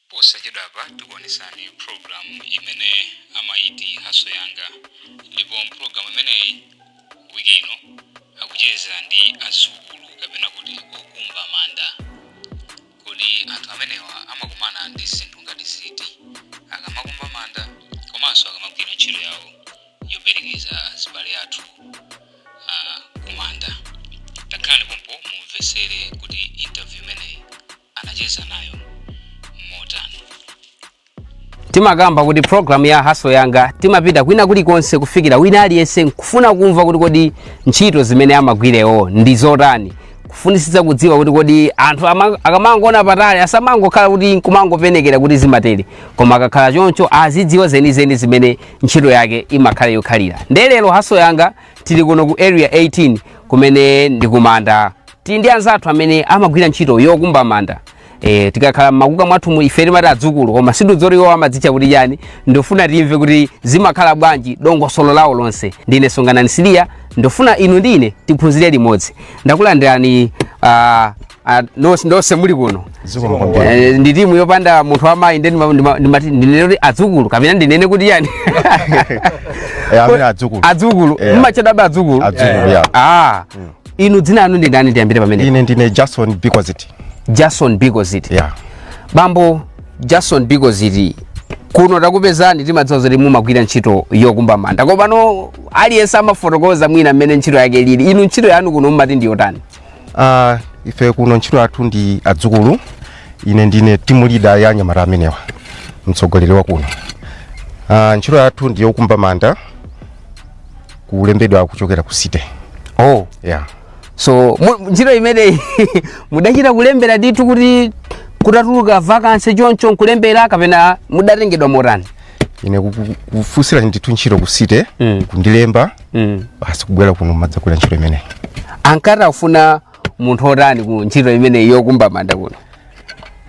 Posachedwapa tikuonetsani pulogalamu imene amayiti Haso Yanga ndipo mpulogalamu imeneyi wiki ino akucheza ndi azukulu kapena kuti okumba manda. Kodi anthu amenewa amakumana ndi zinthu ngati ziti akamakumba manda komanso akamagwira ntchito yawo yoperekeza azibale athu ah, kumanda? Takhalani pompo mumvetsere kuti interview imeneyi anacheza nayo motani timakamba kuti program ya haso yanga timapita kwina kulikonse kufikira wina aliyense nkufuna kumva kuti kodi ntchito zimene amagwirewo ndi zotani kufunisitsa kudziwa kuti kodi anthu ama- akamangoona patali asamangokhala kuti nkumangopenekera kuti zimatele koma akakhala choncho azidziwa zenizeni zimene ntchito yake imakhala yokhalira nde lero haso yanga tili kuno ku area 18 kumene ndi kumanda tili ndi anzathu amene amagwira ntchito yokumba manda e, tikakhala mmakuka mwathumu ife timati adzukulu koma sitidziwa zoti iwo amadzitcha kuti chani ndofuna timve kuti zimakhala bwanji dongosolo lawo lonse ndine songanani siliya ndofuna inu ndi ine tiphunzire limodzi ndakulandirani uh, Ah, nonse nonse muli kuno Zikomo kwambiri. Eh, ndi timu yopanda munthu wamayi nde ndima- ndima- ndimati ndinene kuti adzukulu kapena ndinene kuti yani Eh, amene adzukulu. adzukulu Eh. mmatchedwa adzukulu Adzukulu, yeah. ah inu dzina anu ndi ndani tiyambire pamenepo Ine ndine Jason Bikoziti. jason bikoziti Yeah. bambo jason bikoziti kuno takupezani timadziwa zoti mumagwira ntchito yokumba manda komano aliyense amafotokoza mwina mmene ntchito yake ilili inu ntchito yanu kuno mumati ndi yotani Ah, ife kuno ntchito yathu ndi adzukulu ine ndine team leader ya anyamata amenewa mtsogoleri wa kuno ah, ntchito yathu ndi yokumba manda kulembedwa kuchokera ku city oh yeah. so mu- ntchito imeneyi mudachita kulembera ndithu kuti kutatuluka vacancy choncho nkulembera kapena mudatengedwa motani ine kuku- kufunsira ndithu ntchito ku city Mm. kundilemba mm. basi kubwera kuno kumadzagwira ntchito imeneyi ankati akufuna munthu otani ku ntchito imeneyi yokumba manda kuno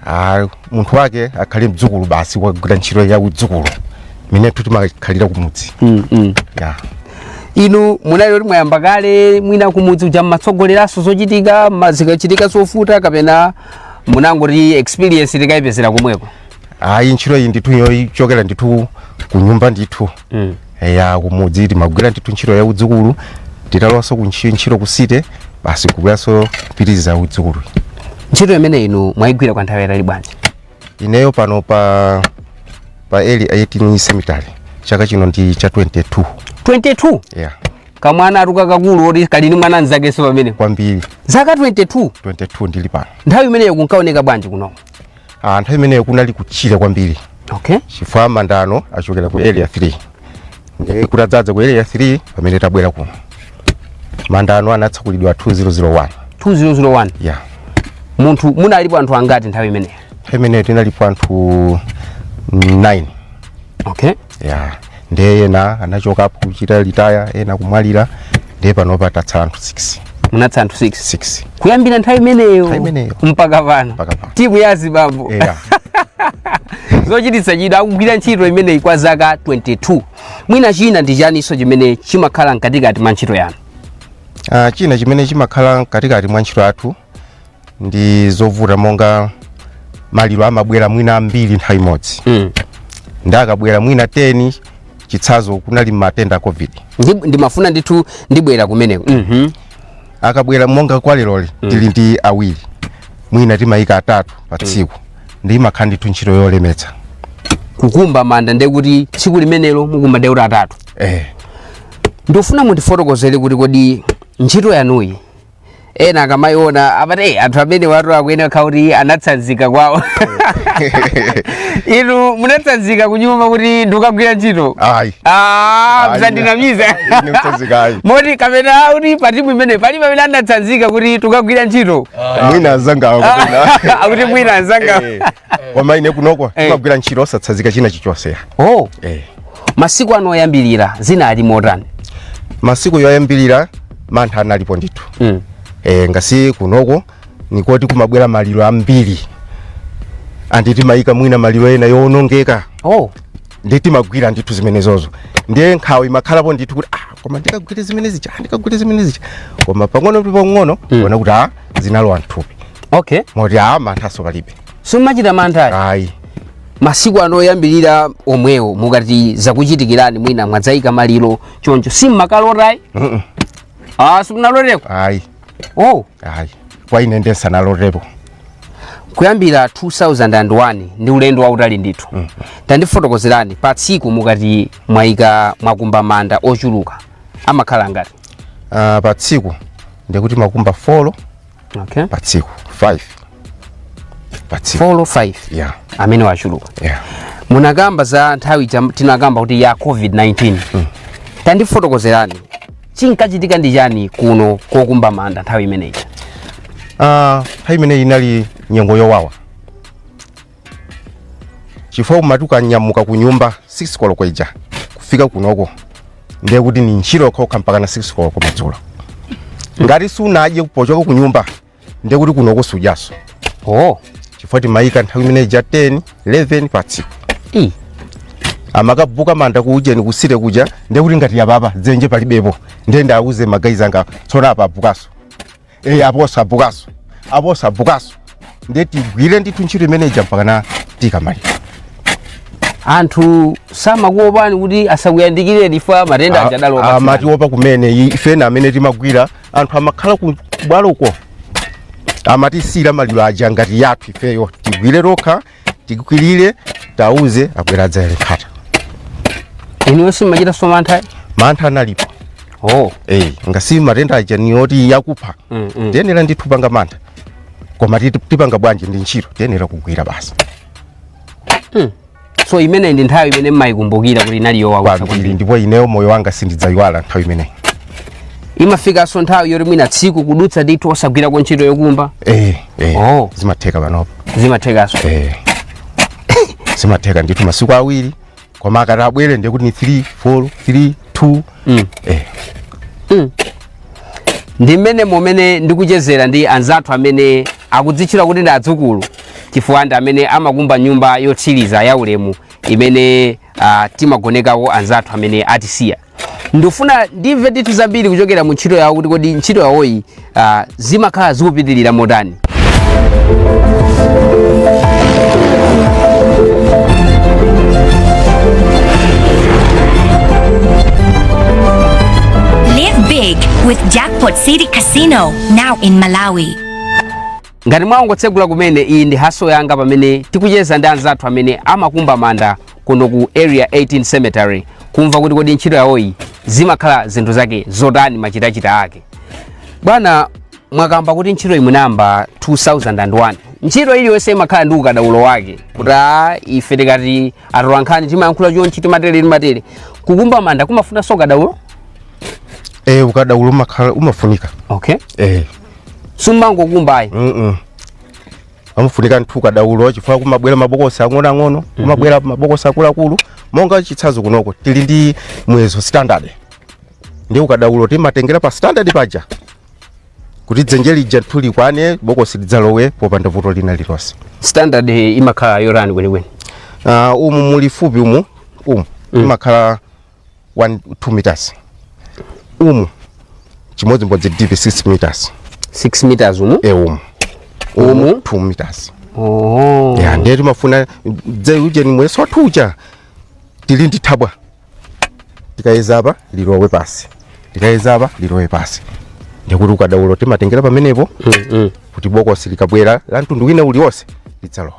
Ah, munthu wake akhale mdzukulu basi wagwira ntchito ya udzukulu imene timakhalira kumudzi mm, mm. yeah inu munali kuti mwayamba kale mwina kumudzi uja mmatsogoleranso zochitika ma- zikachitika zovuta kapena munangoti experience tikayipezera komweko ayi ntchito iyi ndithu yochokera ndithu ku nyumba ndithu mm. ya kumudzi timagwira ndithu ntchito ya udzukulu titalowanso ku ntchi- ntchito ku city basi kubweranso kupitiriza udzukulu ntchito imene inu mwayigwira kwa nthawi yayitali bwanji ineyo pano pa pa area 18 cemetery chaka chino ndi cha 22 22 yeah kamwana ndithu kakakulu koti kali ndi mwana mzakenso pamene kwambiri zaka 22 22 ndili pano nthawi imeneyo kunkaoneka bwanji kuno Ah, nthawi imeneyo kunali kutchire kwambiri okay chifukwa manda ano achokera ku area 3 ndiye kuti adzadza ku area 3 pamene tabwera kuno manda ano anatsekulidwa 2001 2001 ya munati munalipo anthu angati nthawi imeneyo nthawi imeneyo tinalipo anthu 9 okay ya ndiye ena anachokapo kuchita retire ena kumwalira ndiye panopa tatsala anthu 6 munatsala anthu 6 6 kuyambira nthawi imeneyo Nthawi imeneyo. mpaka pano Mpaka pano. timu ya azibambo yeah. zochititsa chidwi akugwira ntchito imeneyi kwa zaka 22 mwina china ndi chiyaninso chimene chimakhala mkatikati mwa ntchito yanu Ah, china chimene chimakhala mkatikati mwa ntchito yathu ndi zovuta monga maliro amabwera mwina ambiri nthawi imodzi Mm. ndi akabwera mwina 10 chitsanzo kunali matenda a covid Ndi- ndimafuna ndithu ndibwera kumeneko Mhm. akabwera monga kwa leroli tili ndi awiri mwina timayika atatu pa tsiku ndi imakhala ndithu ntchito yolemetsa kukumba manda ndiye kuti tsiku limenelo mukumba ndiye kuti atatu eh. ndofuna mundifotokozere kuti kodi ntchito yanuyi ena akamayiona amati "Eh, anthu amenewatu akuyenera kukhala kuti anatsanzika kwawo inu munatsanzika kunyumba kuti ndikukagwira ntchito ayi Ah, Ayi, msandinamiza ine sinatsanzike ayi moti kapena kuti patimu imeneyi alipo amene anatsanzika kuti tukagwira ntchito mwina azanga kapena akuti mwina anzanga Eh, koma ine kunoko Eh. kumagwira ntchito osatsanzika china chichonse oh eh masiku anu oyambirira zinali motani masiku yoyambirira mantha analipo ndithu mm. e, ngasi kunoko nikoti kumabwera maliro ambiri and timayika mwina maliro ena yowonongeka oh. ndi timagwira ndithu zimenezozo ndiye nkhawa imakhalapo ndithu kuti ah, koma ndikagwire zimene zija ah, ndikagwire zimene zija koma pang'ono ndi pang'ono mm. ona kuti ah, zinalowa mthupi okay. moti ah, manthaso palibe sumachita mantha ayi masiku anu oyambirira omwewo mukati zakuchitikirani mwina mwadzayika maliro choncho simmakalota ayi Mm-mm. ah simunaloteko ayi oh ayi kwa ine ndiye sinalotepo kuyambira 2001 ndi ulendo wautali ndithu tandifotokozerani pa tsiku mukati mwayika mwakumba manda ochuluka amakhala angati Ah, pa tsiku ndikuti timakumba 4 okay pa tsiku 5 pa tsiku 4 5 yeah amenewo achuluka yeah munakamba za nthawi jam- tinakamba kuti ya covid-19 mm. tandifotokozerani chinkachitika ndi chani kuno kokumba manda nthawi imeneyi Ah, nthawi imeneyi inali nyengo yowawa chifukwa umati ukanyamuka ku nyumba 6 koloko ija kufika kunoko ndiye kuti ni ntchito yokhokha mpaka na 6 koloko madzulo ngati sunadye pochoka ku nyumba ndiye kuti kunoko sujaso oh chifukwa timayika nthawi imene ija 10 11 pa tsiku i amakabuka manda kuujeni kuseri kuja ndiye kuti ngati yapapa dzenje palibepo ndiye ndiuze magayizi anga tsono apa avbukaso eyi apo osabvukanso apo osabvukanso ndiye tigwire ndithu ntchito imene ija mpakana tikamaliza anthu samakuopani kuti asakuyandikireni ifa matenda aja adalowa amatiopa kumene i- ifena amene timagwira anthu amakhala ku bwaloko amatisiyira maliro aja ngati yathu ifeyo tigwire tokha tikwilire tauze abwera adzayale nkhata inuyo simachita somantha mantha analipo oh eh ngasi matenda aja ni oti yakupha Mm, mm. tiyenera ndithu panga mantha koma titi- tipanga bwanji ndi ntchito tiyenera kugwira basi so imeneyi ndi nthawi imene mmayikumbukira kuti inali yowawa kwambiri ndipo ineyo moyo wanga sindidzayiwala nthawi imeneyi imafikanso nthawi yoti mwina tsiku kudutsa ndithu osagwirako ntchito yokumba eh eh Oh. zimatheka panopa zimathekaso eh zimatheka ndithu masiku awiri koma akati abwere ndiye kuti ni 3 4 3 2 mm. eh ndi mmene momene ndikuchezera ndi anzathu amene akudzitchula kuti ndi adzukulu chifukwa ndi amene amakumba nyumba yotsiriza ya ulemu imene uh, timagonekako anzathu amene atisiya ndifuna ndimve ndithu zambiri kuchokera mu ntchito yawo kuti kodi ntchito yawoyi ah, zimakhala zikupitirira motani Live big with Jackpot City Casino, now in Malawi. Ngati mwangotsegula kumene, iyi ndi haso yanga pamene tikucheza ndi anzathu amene amakumba manda kuno ku Area 18 Cemetery kumva kuti kodi ntchito yawoyi zimakhala zinthu zake zotani machitachita ake. Bwana mwakamba kuti ntchitoyi munayamba 2001 ntchito iliyonse imakhala ndi ukadaulo wake kuti a ife tikati atolankhani timayankhula chonchi timatele timatele kukumba manda kumafunanso ukadaulo Eh, ukadaulo umakhala umafunika. okay Eh. sumangokumba ayi Mm-mm. pamafunika nthu ukadaulo chifukwa kumabwera mabokosi ang'onoang'ono kumabwera mabokosi akuluakulu monga chitsanzo kunoko tili ndi muyezo standard ndi ukadaulo timatengera pa standard paja kuti dzenje lija nthu likwane bokosi lidzalowe popanda vuto lina lilonse standard imakhala yotani kwenikweni uh, umu mulifupi umu umu imakhala 1 2 meters umu chimodzimodzi deep 6 meters 6 meters umu e umu Umu? 2 meters oh ya ndiye timafuna ujeni muyeso wathu uja tili ndi thabwa tikayeza apa lilowe pasi tikayeza apa lilowe pasi ndikuti ukadaulo timatengera pamenepo mm, mm. kuti bokosi likabwera la mtundu wina uliwonse lidzalowa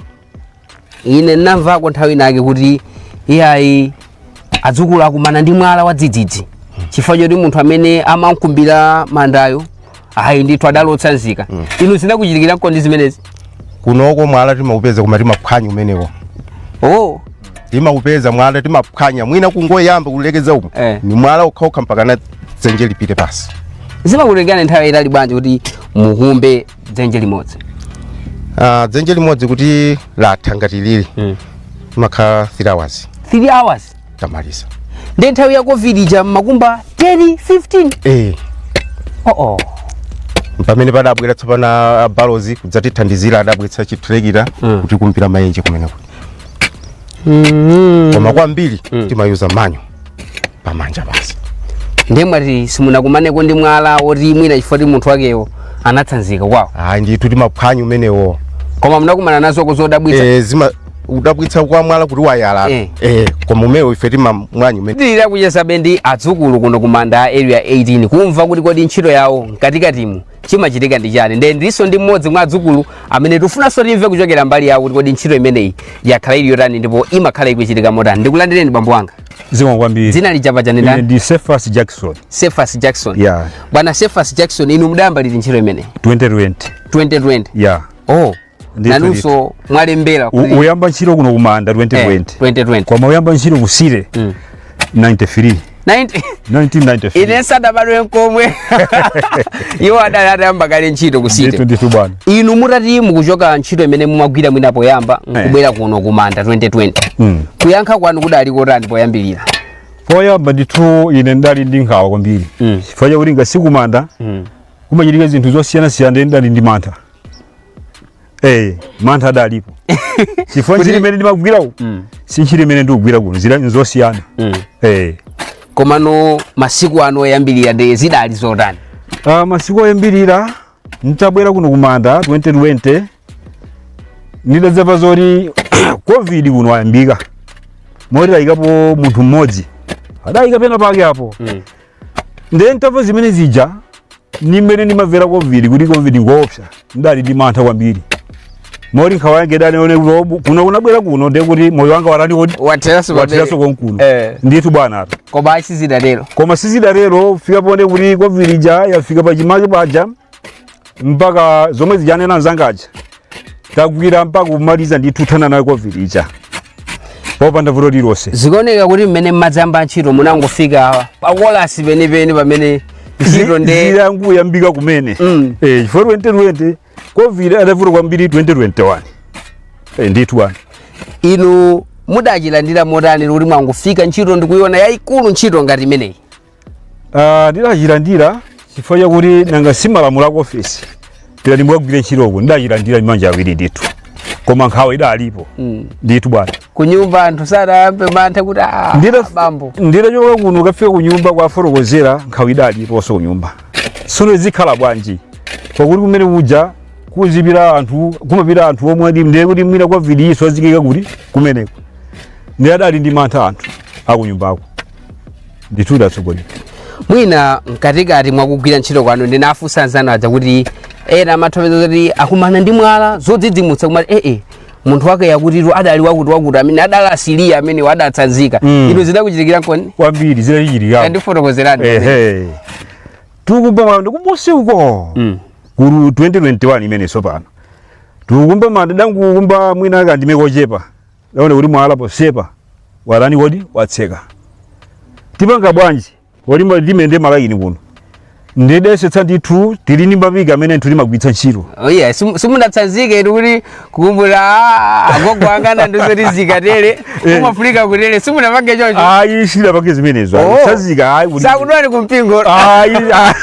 ine namvako nthawi inake kuti iyayi adzukulu akumana ndi mwala wadzidzidzi chifukwa choti munthu amene amamukumbira mandayo ayi ndithu adali osatsanzika inu zinakuchitikira kodi zimenezi kunoko mwala timaupeza koma timaphwanya umenewo oh timaupeza mwala timaphwanya mwina kungoyamba kulekeza umo Eh. ni mwala wokhawokha mpaka na dzenje lipite pasi zimakutengani nthawi yaitali bwanji kuti mukumbe dzenje limodzi Ah, dzenje limodzi kuti latha ngati lili mm. timakhala 3 hours 3 hours tamaliza ndi nthawi ya covid ija mumakumba 10 15 eh oh oh pamene padabwera tsopano a Barloworld kudzatithandizira adabweretsa chitrekita Mm. kuti kumbira maenje kumeneko mm. koma kwambiri timayuza manja pamanja basi ndiye mwati simunakumaneko ndi mwala oti mwina chifukwa ti munthu wakewo anatsanzika kwawo ayi ndithu timaphwanya umenewo koma munakumana nazoko zodabwitsa Eh, zimadabwitsa kwa mwala kuti wayala Eh. Eh, koma umenewo ife timaphwanya umene tili kuchezabe ndi adzukulu kuno ku manda a area 18 kumva kuti kodi ntchito yawo mkatikatimu chimachitika ndi chani nde ndilinso ndi mmodzi mwa adzukulu amene tifunanso timve kuchokera mbali yawo kuti kodi ntchito imeneyi yakhala ili yotani ndipo imakhala ikuchitika motani ndikulandireni bambo wanga zikomo kwambiri dzina lija paja ndi ndani ndi Cephas Jackson Cephas Jackson ya bwana Cephas Jackson inu mudayamba liti ntchito imeneyi 2020 2020 ya oh Ndithu, nanunso mwalembera U- kuti uyamba ntchito kuno kumanda eh, 2020 2020 koma uyamba ntchito ku city Mm. 93 90 1993 ine nsadabadwe nkomwe iwo adali atayamba kale ntchito ku ndithu city ndithu bwana inu mutati mukuchoka ntchito imene mumagwira mwina poyamba nkubwera kuno ku manda 2020 Mm. kuyankha kwanu kudali kotani poyambirira poyamba ndithu ine ndali ndi nkhawa kwambiri Mm. chifukwa chakuti nanga si kumanda kumachitika zinthu zosiyanasiyana ndidali ndi mantha Eh, mantha adalipo. Chifukwa ntchito imene ndimagwira uku. Mm. Si ntchito imene ndikugwira kuno, zili nzosiyana. Mm. Eh. komano masiku anu oyambirira ndi zidali zotani Uh, masiku oyambirira nditabwera kuno kumanda 2020 ndidadzamva zoti covid kuno ayambika moti ayikapo munthu mmodzi adayika pena pake apo Mm. ndiye nditamva zimene zija ni mmene ndimamvera covid kuti covid ngoopsa ndali ndi mantha kwambiri moti nkhawa yake ndatani ine kuno kungobwera kuno ndiye kuti moyo wanga watani kodi watheranso watheranso konkuno Eh. ndithu bwana ata koma sizidatero koma sizidatero kufika poti kuti covid ija yafika pachimake paja mpaka zomwe zija wanena mnzanga uja tagwira mpaka kumaliza ndithu kuthana nayo covid ija popanda vuto lilonse zikuoneka kuti mmene mmadzayamba ntchito munangofika pakolasi penipeni pamene ntchito nde idangoyambika kumene Mm. eh chifukwa 2020 covid idavuta kwambiri 2021 eh ndithu bwana inu mudachilandira motani kuti mwangofika ntchito nkuiona yayikulu ntchito ngati imeneyi Ah, ndidachilandira chifukwa chakuti nanga si malamulo aku ofisi adati mukagwire ntchitoko ndidachilandira ndi manja awiri ndithu koma nkhawa idalipo Mm. ndithu bwana kunyumba anthu sadayambe mantha kuti "Ah, Ndira- bambo nditachoka kuno ukafika kunyumba kuwafotokozera nkhawa idaliponso kunyumba sono zikhala bwanji pakuti kumene kuja muzipita anthu kumapita anthu omwe adi ndiye kuti mwina a covid-nso aziyikidwa kuti kumeneko ndiye adali ndi mantha anthu akunyumbako ndithu tatsogola mwina mkatikati mwakugwira ntchito kwanu ndinafunsa anzanu aja kuti ena amafotokoza kuti akumana ndi zina zodzidzimutsa kumati ee munthu wake wakutitu adali wakuti wakuti amene adatisiya amene adatsanzika Mm. inu zidakuchitikirankoni kwambiri zidachitika tandifotokozerani ehe tikukumba manda kumusi uko Mm. mu 2021 imene sopano tikukumba manda tangokumba mwina kandime kochepa Taona kuti mwala pamsepa watani kodi watseka. Tipanga bwanji? Kulimba mtima nde malaini kuno. Tidayesetsa ndithu tili ndi mapiki amene timagwiritsa ntchito. Oh yeah, simu- simunatsanzike inu kuti kukumbukira "Ah, agogo anga ankati zikatele Eh. kumafunika kutele simunapange chocho Ayi sitidapange zimenezo. Oh. ayi. Kutsanzika ayi. kuti- sakudwani kumpingo Ayi. ayi.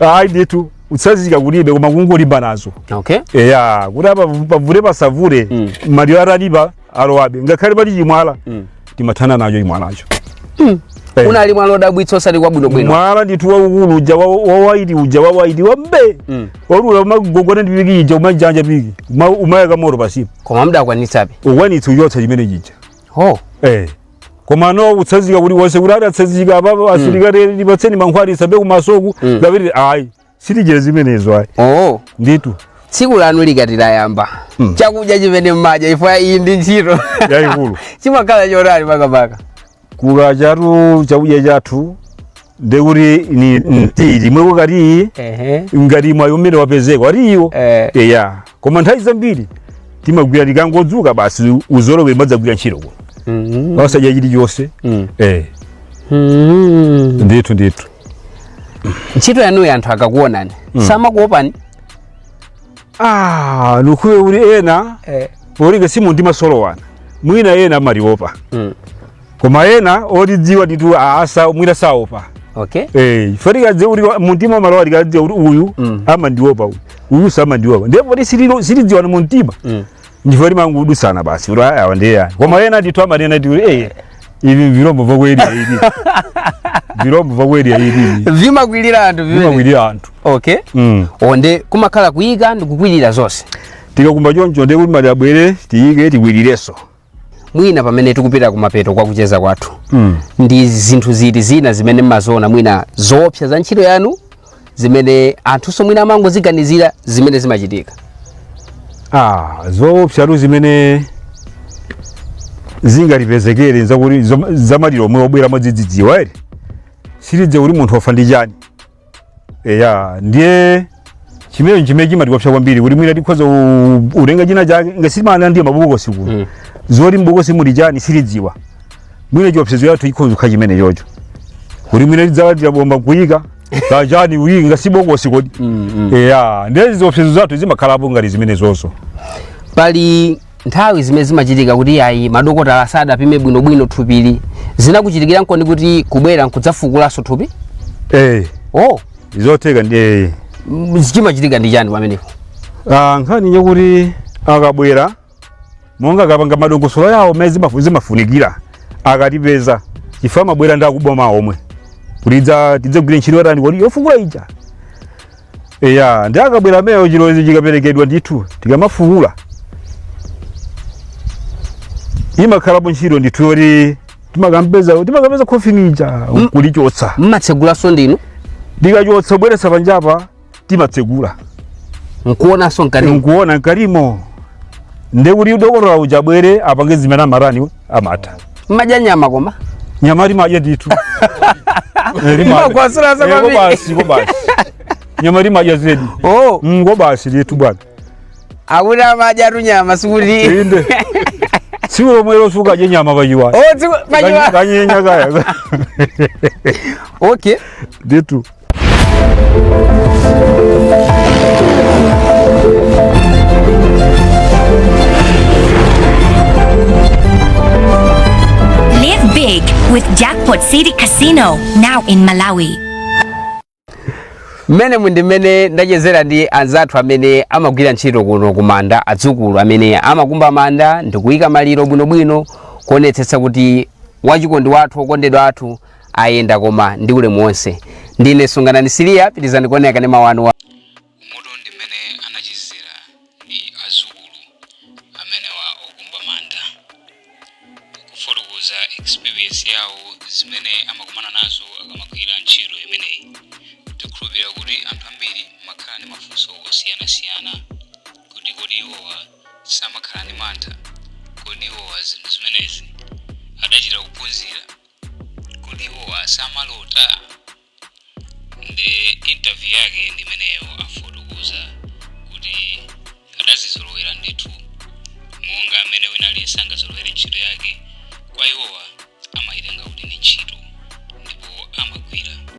Ayi ndithu. kutsanzika kulibe koma kungolimba nazo okay eya kuti apa pavule pasavule Mm. maliro atalipo alowabe ngakhale pali chimwala Mm. timathana nacho chimwalacho Eh. unali mwala odabwitsa osati wabwino bwino mwala ndithu waukulu uja wa- wawaiti uja wawaiti wa mbee Mm. woti ukagogoda ndi piki ija umajanja piki Uma- kumayaka moto pasipo koma mdakwanitsabe kukwanitsa kuchotsa chimene chija ho eh koma ndiye kutsanzika kulibe kuti adatsanzika apapo asilikali mm. tipatseni mankhwala tisambe kumasoku mm. kapena ayi sitichita zimenezo ayi oh. ndithu tsiku lanu likati layamba mm. chakudya chimene mmadya chifukwa iyi ndi ntchito yaikulu chimakhala chotani pankhani ya chakudyatu chakudya chathu ndekuti ndi mtiyi wekha kaya iyi ehe ngati mwayi umene wapezeka ali iwo eh eya koma nthawi zambiri timagwira tikangodzuka basi kuzolowera timadzagwira ntchito kuno mhm osadya chilichonse Mm. eh Mhm. ndithu ndithu ntchito yanuyo anthu akakuwonani samakuopani ah ndikuti ena eh polinga sitimazolowerana mwina ena amatiopa mm. koma ena otidziwa ndithu asa mwina saopa okay eh ife tikadziwa kuti mumtima umalowa tikadziwa kuti uyu Mm. amandiopa uyu uyu samandiopa ndiye poti sitilo- sitidziwana mumtima mm. ndiye timangodutsana basi kuti aya wandeya koma ena titu amanena ndithu eh ivi vilombo vakwedi ivi vilombo vakwedi ivi vimakwilira anthu vimene vimakwilira anthu okay mm. nde kumakhala kuyika ndikukwilira zonse tikakumba choncho ndiye kuti maliro abwere tiyike tikwilirenso mwina pamene tikupita kumapeto kwa kucheza kwathu mm. ndi zinthu ziti zina zimene mmaziona mwina zoopsa za ntchito yanu zimene anthunso mwina amangoziganizira zimene zimachitika ah, zoopsatu zimene zingatipezekere nzakuti zom- zamaliro omwe obwera mwadzidzidziwa eti sitidziwa kuti munthu wafa ndi chani eya ndiye chimene chimene chimatiopsa kwambiri kuti mwina tikhoza ku- kutenga china chake nanga si amabwera ndi mabokosi kuno Mm. zoti mbokosi muli chani sitidziwa mwina chiopsezo chathu chikhoza kukhala chimenecho choncho kuti mwina tidzalandira bomba kuyika kachani kuyika nanga si bokosi kodi Mm, mm. eya ndiye ziopsezo zathu zimakhalapo ngati zimenezozo pali nthawi zimene zimachitika kuti ayi madokotala sadapime bwinobwino thupili zinakuchitikirankoni kuti kubwera nkudzafukulanso thupi eh oh zotheka ndiye eh m- chimachitika ndi chani pamenepo Ah, nkhani njakuti akabwera monga akapanga madongosolo yawo mmene zimafu- zimafunikira akatipeza chifukwa amabwera ndi akuboma omwe kuti idza- tidzagwire ntchito yatani kodi yofukula ija eya nde akabwera amenewo chilolezo chikaperekedwa ndithu tikamafukula imakhalapo ntchito ndithu yoti timakampeza timakampeza khofini uja nkulichotsa mmatsegulanso ndinu tikachotsa kubweretsa panjapa timatsegula nkuonanso mkati nkuona mkatimo ndekuti dokotala uja abwere apange zimene amatani amata mmadya nyama koma nyama timadya ndithu Eh, timadya. Imakwasula za Eh, kwambiri. kobasi kobasi nyama timadya zedi oh Mm, kobasi ndithu bwana akuti amadyatu nyama sikuti inde tsiku lomwe losuka je nyama pachiwa oh tsiku pachiwa kanyenya kaya okay nditu Live big with Jackpot City Casino now in Malawi. mmene ndi mmene ndachezera ndi anzathu amene amagwira ntchito kuno ku manda adzukulu amene amakumba manda ndikuyika maliro bwinobwino kuonetsetsa kuti wachikondi wathu wokondedwa athu ayenda koma ndi ulemu wonse ndine sunganani siliya pitirizani kuonera kanema wanu wa Moto ndi mmene ndachezera ndi azukulu amenewa, okumba manda kufotokoza experience yawo zimene amakumana nazo akamagwira ntchito imeneyi tikhulupirira kuti anthu ambiri mumakhala ndi mafunso osiyanasiyana kuti kodi iwowa samakhala ndi mantha kodi iwowa zinthu zimenezi adachita kuphunzira kodi iwowa samalota nde interview yake ndi imeneyo afotokoza kuti adazizolowera ndithu monga amene wina aliyense angazolowere ntchito yake kwa iwowa amayitenga kuti ndi ntchito